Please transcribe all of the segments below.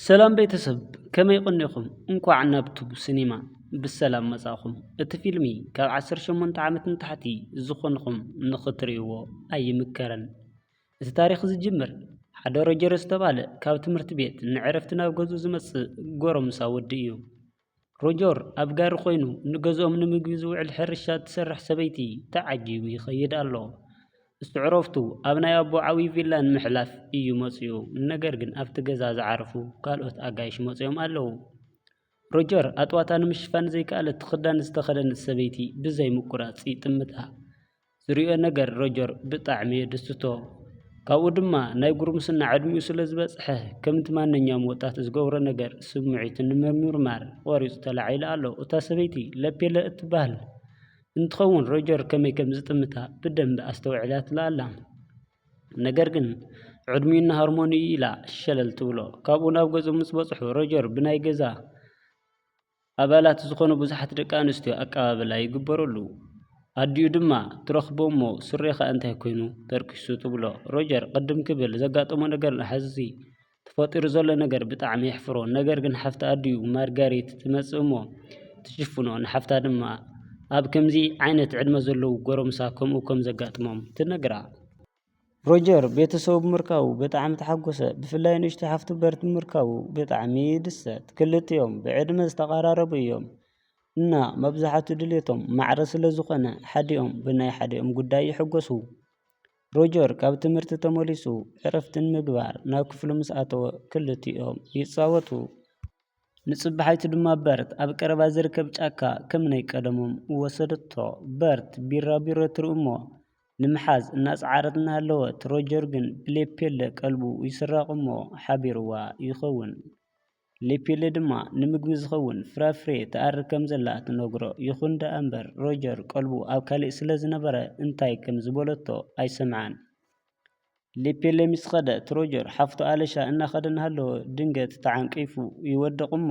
ሰላም ቤተሰብ ከመይ ቐኒኹም እንኳዕ ናብ ቱብ ሲኔማ ብሰላም መፃእኹም እቲ ፊልሚ ካብ ዓሰርተ ሸሞንተ ዓመት ንታሕቲ ዝኾንኹም ንኽትሪእዎ ኣይምከርን እቲ ታሪኽ ዝጅምር ሓደ ሮጀር ዝተባህለ ካብ ትምህርቲ ቤት ንዕረፍቲ ናብ ገዝኡ ዝመፅእ ጎረምሳ ወዲ እዩ ሮጀር ኣብ ጋሪ ዀይኑ ንገዝኦም ንምግቢ ዚውዕል ሕርሻ እትሰርሕ ሰበይቲ ተዓጂቡ ይኸይድ ኣሎ። እሱ ዕረፍቱ ኣብ ናይ ኣቦኡ ዓብዪ ቪላ ንምሕላፍ እዩ መጺኡ፣ ነገር ግን ኣብቲ ገዛ ዝዓረፉ ካልኦት ኣጋይሽ መጺኦም ኣለዉ። ሮጀር ኣጥዋታ ንምሽፋን ዘይከኣለት ክዳን ዝተኸድነት ሰበይቲ ብዘይ ምቍራጽ ይጥምታ። ዝሪኦ ነገር ሮጀር ብጣዕሚ እየ ዝድስቶ ካብኡ ድማ ናይ ጉርምስና ዕድሚኡ ስለ ዝበፅሐ ከምቲ ማንኛውም ወጣት ዝገብሮ ነገር ስምዒቱ ንምምርማር ቆሪፁ ተላዒሉ ኣሎ እታ ሰበይቲ ለፔለ እትበሃል እንትኸውን ሮጀር ከመይ ከም ዝጥምታ ብደንቢ ኣስተውዒላትሉ ኣላ ነገር ግን ዕድሚኡ እና ሃርሞኒኡ ኢላ ሸለል ትብሎ ካብኡ ናብ ገዝኡ ምስ በፅሑ ሮጀር ብናይ ገዛ ኣባላት ዝኾኑ ብዙሓት ደቂ ኣንስትዮ ኣቀባብላ ይግበረሉ። ኣዲኡ ድማ ትረኽቦ እሞ ሱሬኻ እንታይ ኮይኑ ተርኪሱ ትብሎ። ሮጀር ቅድም ክብል ዘጋጠሞ ነገር ንሓዚ ተፈጢሩ ዘሎ ነገር ብጣዕሚ የሕፍሮ። ነገር ግን ሓፍቲ ኣዲኡ ማርጋሪት ትመጽእ እሞ ትሽፍኖ። ንሓፍታ ድማ ኣብ ከምዚ ዓይነት ዕድመ ዘለዉ ጎረምሳ ከምኡ ከም ዘጋጥሞም ትነግራ። ሮጀር ቤተሰቡ ብምርካቡ ብጣዕሚ ተሓጎሰ፣ ብፍላይ ንእሽቶ ሓፍቱ በርት ብምርካቡ ብጣዕሚ ይድሰት። ክልቲኦም ብዕድመ ዝተቐራረቡ እዮም እና መብዛሕቱ ድሌቶም ማዕረ ስለ ዝኾነ ሓዲኦም ብናይ ሓዲኦም ጉዳይ ይሕጎሱ። ሮጀር ካብ ትምህርቲ ተመሊሱ ዕረፍቲ ንምግባር ናብ ክፍሉ ምስ ኣተወ ክልቲኦም ይጻወቱ። ንጽባሒቱ ድማ በርት ኣብ ቀረባ ዝርከብ ጫካ ከም ናይ ቀደሞም ወሰደቶ። በርት ቢራቢሮ ትርኢ እሞ ንምሓዝ እናጸዓረት እናሃለወት ሮጀር ግን ብሌፔለ ቀልቡ ይስረቕ እሞ ሓቢሩዋ ይኸውን። ሌፔለ ድማ ንምግቢ ዝኸውን ፍራፍሬ ትኣሪ ከም ዘላ ትነግሮ። ይኹን ደኣ እምበር ሮጀር ቀልቡ ኣብ ካልእ ስለ ዝነበረ እንታይ ከም ዝበለቶ ኣይሰምዓን። ሌፔለ ምስ ከደት ሮጀር ሓፍቱ ኣለሻ እናኸደ እናሃለወ ድንገት ተዓንቂፉ ይወድቕ እሞ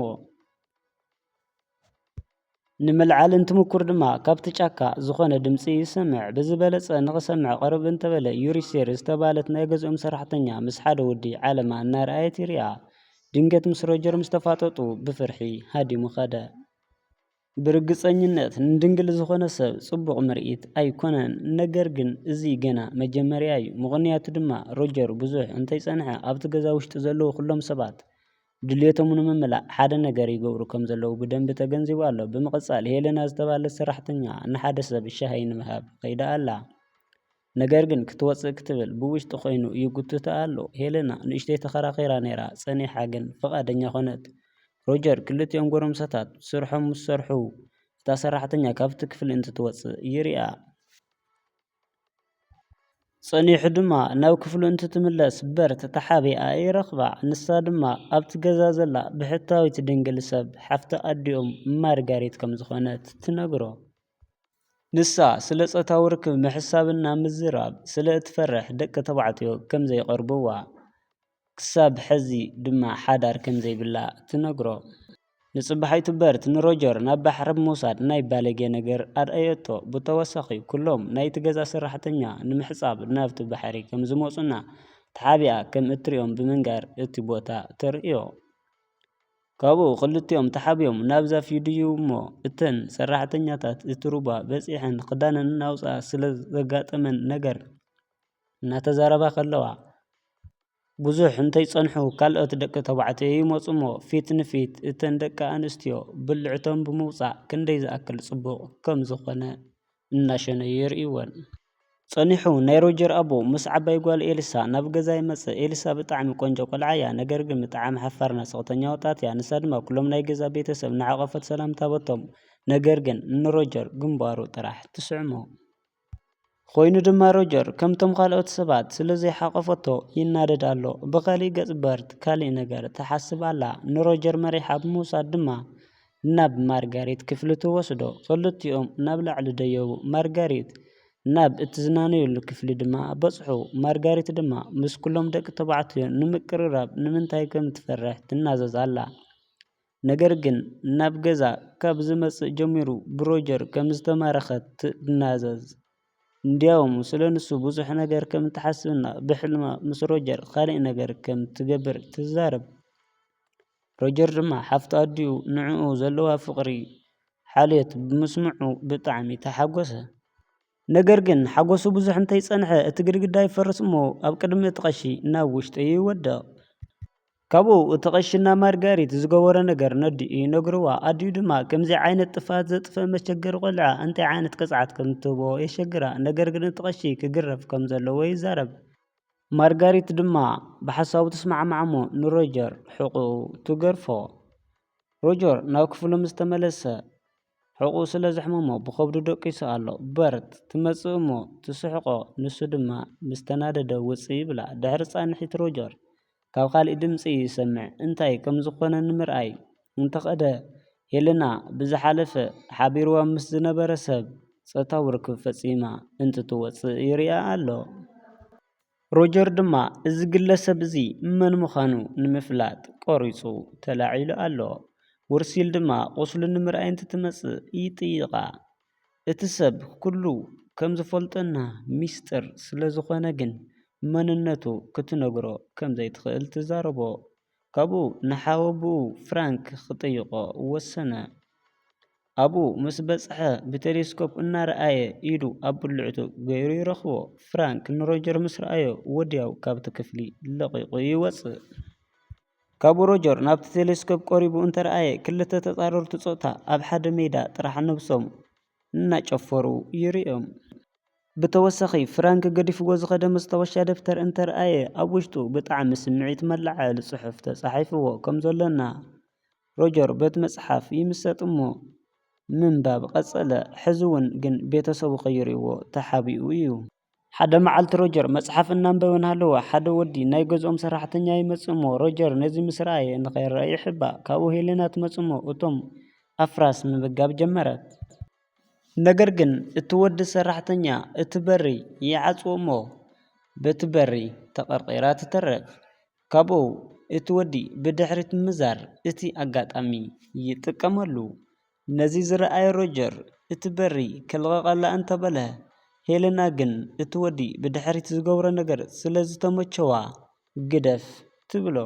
ንምልዓል እንትምኩር ድማ ካብቲ ጫካ ዝኾነ ድምፂ ይሰምዕ ብዝበለፀ ንኽሰምዕ ቅርብ እንተበለ ዩሪስቴር ዝተብሃለት ናይ ገዝኦም ሰራሕተኛ ምስ ሓደ ወዲ ዓለማ እናርኣየት ይሪኣ ድንገት ምስ ሮጀር ምስ ተፋጠጡ ብፍርሒ ሃዲሙ ከደ ብርግፀኝነት ንድንግል ዝኾነ ሰብ ፅቡቕ ምርኢት ኣይኮነን ነገር ግን እዚ ገና መጀመርያ እዩ ምኽንያቱ ድማ ሮጀር ብዙሕ እንተይፀንሐ ኣብቲ ገዛ ውሽጢ ዘለዉ ኹሎም ሰባት ድልየቶም ንምምላእ ሓደ ነገር ይገብሩ ከም ዘለዉ ብደንቢ ተገንዚቡ ኣሎ። ብምቕጻል፣ ሄለና ዝተባህለት ሰራሕተኛ ንሓደ ሰብ ሻሂ ንምሃብ ከይዳ ኣላ። ነገር ግን ክትወጽእ ክትብል ብውሽጢ ኮይኑ ይጉትታ ኣሎ። ሄለና ንእሽተይ ተኸራኺራ ነይራ፣ ጸኒሓ ግን ፍቓደኛ ኮነት። ሮጀር ክልቲኦም ጎረምሳታት ስርሖም ምስ ሰርሑ እታ ሰራሕተኛ ካብቲ ክፍሊ እንትትወጽእ ይሪኣ። ጸኒሑ ድማ ናብ ክፍሉ እንትትምለስ በር ተተሓቢኣ ይረኽባ። ንሳ ድማ ኣብቲ ገዛ ዘላ ብሕታዊት ድንግል ሰብ ሓፍቲ ኣዲኦም ማርጋሪት ከም ዝኾነት ትነግሮ። ንሳ ስለ ጾታዊ ርክብ ምሕሳብና ምዝራብ ስለ እትፈርሕ ደቂ ተባዕትዮ ከም ዘይቀርብዋ። ክሳብ ሕዚ ድማ ሓዳር ከምዘይብላ ትነግሮ። ንጽባሕ ዩቱበርት ንሮጀር ናብ ባሕሪ ብምውሳድ ናይ ባለጌ ነገር ኣርእየቶ። ብተወሳኺ ኩሎም ናይቲ ገዛ ሰራሕተኛ ንምሕጻብ ናብቲ ባሕሪ ከምዝመጹና ተሓቢኣ ከምእትርእዮም ብምንጋር እቲ ቦታ ተርእዮ። ካብኡ ክልቲኦም ተሓቢኦም ናብዛ ፊድዩ'ሞ እተን ሰራሕተኛታት እቲ ሩባ በጺሐን ክዳነን እናውጽኣ ስለዘጋጠመን ነገር እናተዛረባ ከለዋ ብዙሕ እንተይፀንሑ ካልኦት ደቂ ተባዕትዮ ይመፁ እሞ ፊት ንፊት እተን ደቂ ኣንስትዮ ብልዕቶም ብምውፃእ ክንደይ ዝኣክል ፅቡቕ ከም ዝኾነ እናሸነዩ የርእይወን። ፀኒሑ ናይ ሮጀር ኣቦ ምስ ዓባይ ጓል ኤልሳ ናብ ገዛ ይመፅእ። ኤልሳ ብጣዕሚ ቆንጆ ቆልዓ እያ ነገር ግን ብጣዕሚ ሓፋርና ስቕተኛ ወጣት እያ። ንሳ ድማ ኩሎም ናይ ገዛ ቤተሰብ እናሓቖፈት ሰላምታ ሃበቶም። ነገር ግን ንሮጀር ግንባሩ ጥራሕ ትስዕሞ። ኰይኑ ድማ ሮጀር ከምቶም ካልኦት ሰባት ስለ ዘይሓቘፈቶ ይናደድ ኣሎ። ብኸሊእ ገጽ በርት ካልእ ነገር ትሓስብ ኣላ። ንሮጀር መሪሓ ብምውሳድ ድማ ናብ ማርጋሬት ክፍሊ ትወስዶ። ክልቲኦም ናብ ላዕሊ ደየቡ ማርጋሬት ናብ እትዝናነየሉ ክፍሊ ድማ በጽሑ። ማርጋሬት ድማ ምስ ኵሎም ደቂ ተባዕትዮ ንምቅርራብ ንምንታይ ከም እትፈርሕ ትናዘዝ ኣላ። ነገር ግን ናብ ገዛ ካብ ዝመጽእ ጀሚሩ ብሮጀር ከም ዝተማረኸት ትናዘዝ። እንድያውም ስለ ንሱ ብዙሕ ነገር ከም እትሓስብና ብሕልማ ምስ ሮጀር ኻልእ ነገር ከም እትገብር ትዛረብ። ሮጀር ድማ ሓፍቱ ኣዲኡ ንዕኡ ዘለዋ ፍቕሪ ሓልዮት ብምስምዑ ብጣዕሚ ተሓጎሰ። ነገር ግን፣ ሓጐሱ ብዙሕ እንተ ጸንሐ፣ እቲ ግድግዳ ይፈርስ እሞ ኣብ ቅድሚ እቲ ቐሺ ናብ ውሽጢ ይወድቕ። ካብኡ እቲ ቐሺ እና ማርጋሪት ዝገበሮ ነገር ነዲኡ ይነግርዋ። ኣዲኡ ድማ ከምዚ ዓይነት ጥፍኣት ዘጥፍእ መቸገሪ ቈልዓ እንታይ ዓይነት ቅጽዓት ከም እትህቦ የሸግራ። ነገር ግን እቲ ቐሺ ክግረፍ ከም ዘለዎ ይዛረብ። ማርጋሪት ድማ ብሓሳቡ ትስማዕማዕ እሞ ንሮጀር ሕቖኡ ትገርፎ። ሮጀር ናብ ክፍሉ ምስ ተመለሰ። ሕቖኡ ስለ ዘሕመሞ ብኸብዱ ደቂሱ ኣሎ። በርት፣ ትመጽእ እሞ ትስሕቖ፣ ንሱ ድማ ምስ ተናደደ ውጽእ ይብላ። ድሕሪ ጻንሒት ሮጀር ካብ ካልእ ድምጺ ይሰምዕ። እንታይ ከም ዝኾነ ንምርኣይ እንተ ኸደ ሄለና ብዝሓለፈ ሓቢርዋ ምስ ዝነበረ ሰብ ጾታዊ ርክብ ፈጺማ እንትትወጽእ ይርእያ ኣሎ። ሮጀር ድማ እዚ ግለሰብ እዚ መን ምዃኑ ንምፍላጥ ቆሪጹ ተላዒሉ ኣሎ። ዉርሲል ድማ ቁስሉ ንምርኣይ እንትትመጽእ ይጥይቓ። እቲ ሰብ ኩሉ ከም ዝፈልጦና ሚስጥር ስለ ዝኾነ ግን መንነቱ ክትነግሮ ከም ዘይትኽእል ትዛረቦ። ካብኡ ንሓወቦኡ ፍራንክ ክጥይቖ ወሰነ። ኣብኡ ምስ በጽሐ ብተሌስኮፕ እናረኣየ ኢዱ ኣብ ብልዕቱ ገይሩ ይረኽቦ። ፍራንክ ንሮጀር ምስ ረኣዮ ወዲያው ካብቲ ክፍሊ ለቒቑ ይወጽእ። ካብኡ ሮጀር ናብቲ ተሌስኮፕ ቀሪቡ እንተረኣየ ክልተ ተጻረርቲ ጾታ ኣብ ሓደ ሜዳ ጥራሕ ነብሶም እናጨፈሩ ይርእዮም። ብተወሳኺ ፍራንክ ገዲፍዎ ዝኸደ መስታወሻ ደፍተር እንተርኣየ ኣብ ውሽጡ ብጣዕሚ ስምዒት መለዓዓሊ ጽሑፍ ተጻሒፍዎ ከም ዘሎ እና ሮጀር በቲ መጽሓፍ ይምሰጥ እሞ ምንባብ ቐጸለ። ሕዚ'ውን ግን ቤተሰቡ ቀይርዎ ተሓቢኡ እዩ። ሓደ መዓልቲ ሮጀር መጽሓፍ እናንበበ እናሃለወ ሓደ ወዲ ናይ ገዝኦም ሰራሕተኛ ይመጽእ እሞ ሮጀር ነዚ ምስ ረኣየ ንኸይረኣይ ይሕባ። ካብኡ ሄለና ትመጽእ እሞ እቶም ኣፍራስ ምምጋብ ጀመረት። ነገር ግን እቲ ወዲ ሰራሕተኛ እቲ በሪ ይዓጽዎ እሞ በቲ በሪ ተቐርቒራ ትተርፍ። ካብኡ እቲ ወዲ ብድሕሪት ምምዛር እቲ ኣጋጣሚ ይጥቀመሉ። ነዚ ዝረኣየ ሮጀር እቲ በሪ ከልቕቐላ እንተ በለ፣ ሄለና ግን እቲ ወዲ ብድሕሪት ዝገብሮ ነገር ስለ ዝተመቸዋ ግደፍ ትብሎ።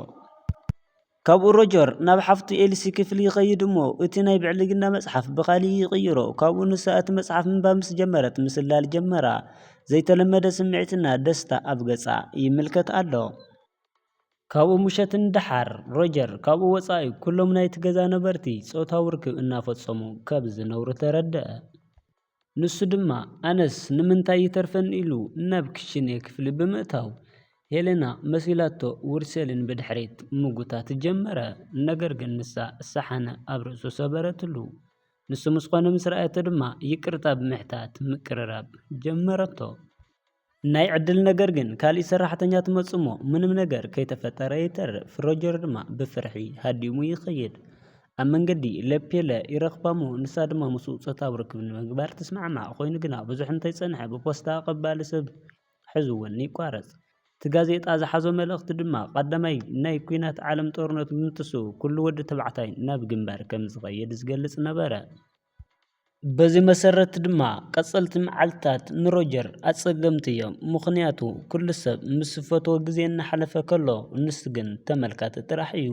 ካብኡ ሮጀር ናብ ሓፍቱ ኤልሲ ክፍሊ ይኸይድ እሞ እቲ ናይ ብዕልግና መጽሓፍ ብኻልእ ይቕይሮ። ካብኡ ንሳ እቲ መጽሓፍ ምንባብ ምስ ጀመረት ምስላል ጀመራ። ዘይተለመደ ስምዒትና ደስታ ኣብ ገጻ ይምልከት ኣሎ። ካብኡ ምሸት ንደሓር፣ ሮጀር ካብኡ ወጻኢ ኩሎም ናይቲ ገዛ ነበርቲ ጾታዊ ርክብ እናፈጸሙ ከብ ዝነብሩ ተረድኣ። ንሱ ድማ ኣነስ ንምንታይ ይተርፈኒ ኢሉ ናብ ክሽኔ ክፍሊ ብምእታው ሄለና መሲላቶ ውርሴልን ብድሕሪት ምጉታት ጀመረ። ነገር ግን ንሳ ሳሓነ ኣብ ርእሱ ሰበረትሉ። ንሱ ምስ ኾነ ምስ ረኣየቶ ድማ ይቅርታ ብምሕታት ምቅርራብ ጀመረቶ። ናይ ዕድል ነገር ግን ካሊእ ሰራሕተኛ ትመጽእሞ ምንም ነገር ከይተፈጠረ ይተርፍ ሮጀር ድማ ብፍርሒ ሃዲሙ ይኸይድ። ኣብ መንገዲ ለፔለ ይረኽባሞ ንሳ ድማ ምስኡ ጾታዊ ርክብ ንምግባር ትስማዕማዕ ኮይኑ ግና ብዙሕ እንተይጸንሐ ብፖስታ ኣቐባሊ ሰብ ሕዝውን ይቋረጽ። እቲ ጋዜጣ ዝሓዞ መልእኽቲ ድማ ቐዳማይ ናይ ኩናት ዓለም ጦርነት ብምትስኡ ኩሉ ወዲ ተባዕታይ ናብ ግንባር ከምዝኸይድ ዝገልጽ ነበረ። በዚ መሰረት ድማ ቀፀልቲ መዓልትታት ንሮጀር ኣፀገምቲ እዮም ምኽንያቱ ኩሉ ሰብ ምስ ዝፈትዎ ግዜ እናሓለፈ ከሎ ንሱ ግን ተመልካቲ ጥራሕ እዩ።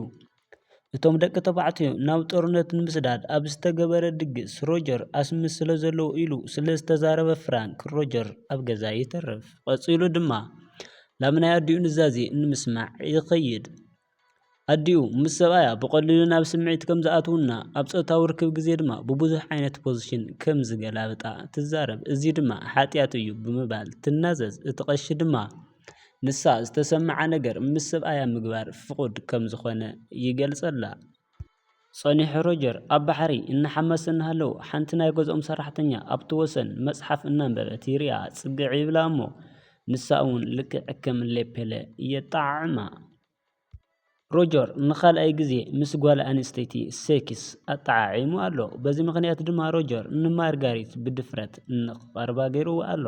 እቶም ደቂ ተባዕትዮ ናብ ጦርነት ንምስዳድ ኣብ ዝተገበረ ድግስ ሮጀር ኣስሚ ስለ ዘለዎ ኢሉ ስለ ዝተዛረበ ፍራንክ ሮጀር ኣብ ገዛ ይተርፍ። ቀፂሉ ድማ ላምናይ ኣዲኡ ኑዛዜ ንምስማዕ ይኸይድ። ኣዲኡ ምስ ሰብኣያ ብቐሊሉ ናብ ስምዒት ከም ዝኣትዉና፣ ኣብ ጾታዊ ርክብ ግዜ ድማ ብብዙሕ ዓይነት ፖዚሽን ከም ዝገላብጣ ትዛረብ፣ እዚ ድማ ሓጥያት እዩ ብምባል ትናዘዝ፣ እቲ ቀሺ ድማ ንሳ ዝተሰምዓ ነገር ምስ ሰብኣያ ምግባር ፍቑድ ከም ዝኾነ ይገልጸላ። ጸኒሑ ሮጀር ኣብ ባሕሪ እናሓመሰ እናሃለወ ሓንቲ ናይ ገዝኦም ሰራሕተኛ ኣብቲ ወሰን መጽሓፍ እናንበበት ይርእያ። ጽግዕ ይብላ እሞ ንሳ'ውን ልክዕ ከም ሌፔለ የጠዓዕማ። ሮጀር ንኻልኣይ ግዜ ምስ ጓል ኣንስተይቲ ሴክስ ኣጠዓዒሙ ኣሎ። በዚ ምኽንያት ድማ ሮጀር ንማርጋሪት ብድፍረት ንኽቐርባ ገይርዋ ኣሎ።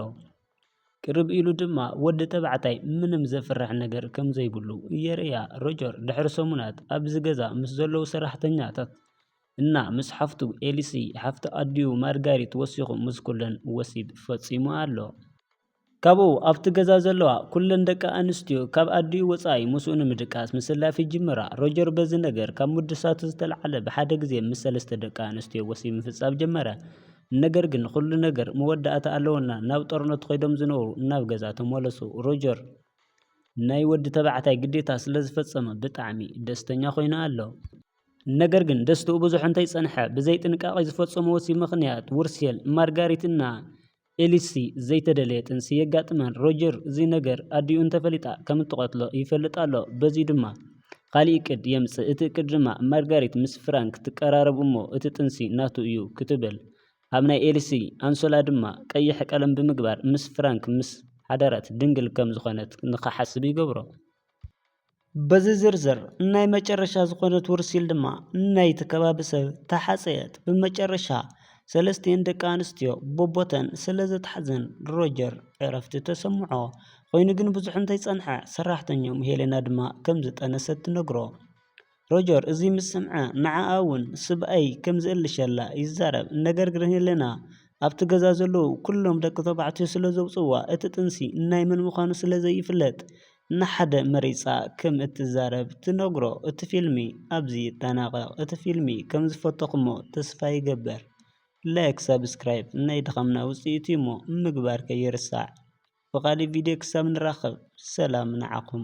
ቅርብ ኢሉ ድማ ወዲ ተባዕታይ ምንም ዘፍርሕ ነገር ከም ዘይብሉ የርእያ። ሮጀር ድሕሪ ሰሙናት ኣብዚ ገዛ ምስ ዘለዉ ሰራሕተኛታት እና ምስ ሓፍቱ ኤሊሲ፣ ሓፍቲ ኣዲኡ ማርጋሪት ወሲኹ ምስ ኩለን ወሲብ ፈጺሙ ኣሎ። ካብኡ ኣብቲ ገዛ ዘለዋ ኩለን ደቂ ኣንስትዮ ካብ ኣዲኡ ወጻኢ ምስኡ ንምድቃስ ምስላፍ ይጅምራ። ሮጀር በዚ ነገር ካብ ምድሳቱ ዝተልዓለ ብሓደ ግዜ ምስ ሰለስተ ደቂ ኣንስትዮ ወሲብ ምፍጻም ጀመረ። ነገር ግን ኹሉ ነገር መወዳእታ ኣለዎና ናብ ጦርነት ኾይዶም ዝነበሩ ናብ ገዛ ተመለሱ ሮጀር ናይ ወዲ ተባዕታይ ግዴታ ስለ ዝፈጸመ ብጣዕሚ ደስተኛ ኾይኑ ኣሎ። ነገር ግን ደስትኡ ብዙሕ እንተይጸንሐ ብዘይ ጥንቃቄ ዝፈጸሞ ወሲብ ምኽንያት ውርሴል፣ ማርጋሪት እና ኤሊሲ ዘይተደለየ ጥንሲ የጋጥመን። ሮጀር እዚ ነገር ኣዲኡ እንተፈሊጣ ከምትቐትሎ ይፈልጥ ኣሎ። በዚ ድማ። ኻሊእ እቅድ የምጽእ እቲ እቅድ ድማ ማርጋሪት ምስ ፍራንክ ትቀራረብ እሞ እቲ ጥንሲ ናቱ እዩ ክትብል ኣብ ናይ ኤልሲ ኣንሶላ ድማ ቀይሕ ቀለም ብምግባር ምስ ፍራንክ ምስ ሓደረት ድንግል ከም ዝኾነት ንኽሓስብ ይገብሮ። በዚ ዝርዝር ናይ መጨረሻ ዝኾነት ውርሲል ድማ ናይቲ ከባቢ ሰብ ተሓጸየት። ብመጨረሻ ሰለስቲኤን ደቂ ኣንስትዮ ቦቦተን ስለዘትሓዘን ሮጀር ዕረፍቲ ተሰምዖ። ኰይኑ ግን ብዙሕ እንተይጸንሐ፣ ሰራሕተኛኦም ሄለና ድማ ከም ዝጠነሰት ትነግሮ። ሮጀር እዚ ምስ ሰምዐ ንዓኣ እውን ስብኣይ ከም ዝእልሸላ ይዛረብ፣ ነገር ግን ሄለና ኣብቲ ገዛ ዘለዉ ኵሎም ደቂ ተባዕትዮ ስለ ዘውጽእዋ እቲ ጥንሲ ናይ መን ምዃኑ ስለ ዘይፍለጥ ንሓደ መሪጻ ከም እትዛረብ ትነግሮ። እቲ ፊልሚ ኣብዚ ይጠናቐቕ። እቲ ፊልሚ ከም ዝፈተኹሞ ተስፋ ይገብር። ላይክ ሳብስክራይብ ናይ ድኻምና ውጽኢት እዩሞ ምግባር ከይርሳዕ። ብካሊእ ቪድዮ ክሳብ ንራከብ ሰላም ንዓኩም።